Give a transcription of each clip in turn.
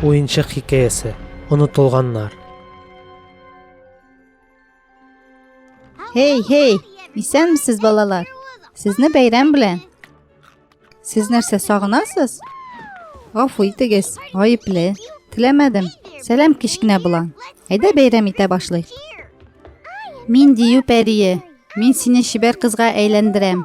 Уенчык хикәясе. Онытылганнар. Эй, эй, исәнмесез, балалар. Сезне бәйрәм белән. Сез нәрсә сагынасыз? Гафу итегез, гаепле. Теләмәдем. Сәлам кечкенә булан. Әйдә бәйрәм итә башлый. Мин дию пәрие. Мин сине чибәр кызга әйләндерәм.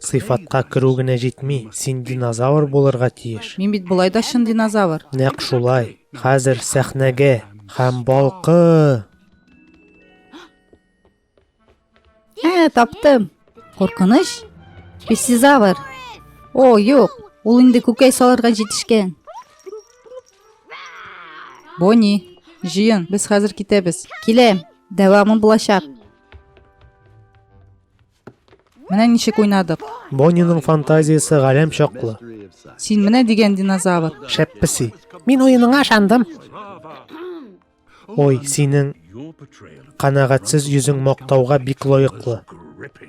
Сыйфатка керү генә җитми, син динозавр булырга тиеш. Мин бит болай да чын динозавр. Нәкъ шулай. Хәзер сәхнәгә һәм балкы! Ә, таптым. Куркыныч? Пессизавр. О, юк. Ул инде күкәй салырга җитешкән. Бонни, җыен, без хәзер китәбез. Киләм. Дәвамы булачак. Менә ничек уйнадык. Бонниның фантазиясе галәм чаклы. Син менә дигән динозавр. Шәп песи. Мин уеныңа ышандым. Ой, синең канәгатьсез йөзең мактауга бик лаеклы.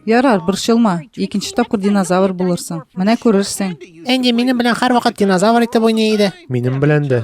Ярар, борчылма. Икенче тапкыр динозавр булырсың. Менә күрерсең. Энди минем белән һәрвакыт динозавр итеп уйный иде. Минем белән дә.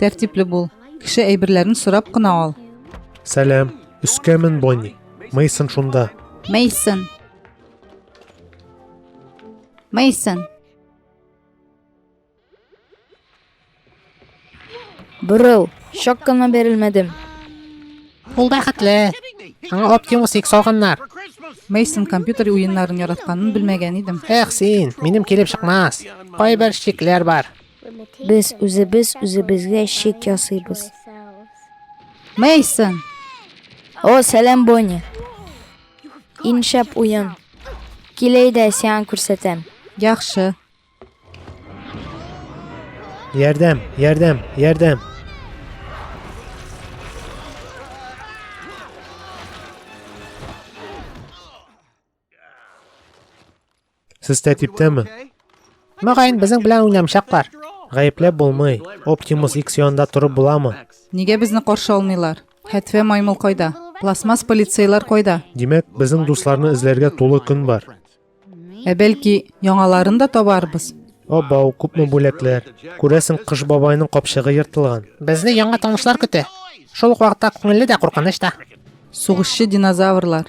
Тәртипле бул. Кеше әйберләрен сорап кына ал. Сәлам. Өскәмен Бонни. Мейсон шунда. Мейсон. Мейсон. Броу, шок кына берилмәдем. Ул бәхетле. Аңа Optimus X алганнар. Мейсон компьютер уеннарын яратканын белмәгән идем. Эх, син, минем килеп чыкмас. Кайбер шикләр бар. Без үзебез үзебезгә шик ясыйбыз. Мейсон! О, сәлам, Бонни! Иншәп уен. Киләй дә сиан күрсәтәм. Яхшы. Ярдәм, ярдәм, ярдәм. Сез тәртиптәме? Мөгаен, безнең белән уйнамчаклар. Гаепләп булмый. Оптимус X янында торып буламы? Нигә безне каршы алмыйлар? Хәтфә маймыл кайда? Пластмасс полицейлар кайда? Димәк, безнең дусларны эзләргә тулы көн бар. Ә бәлки, яңаларын да табарбыз? Абау, күпме бүләкләр. Күрәсең, Кыш бабайның капчыгы ертылган. Безне яңа танышлар көтә. Шул ук вакытта күңелле дә, куркыныч та. Сугышчы динозаврлар.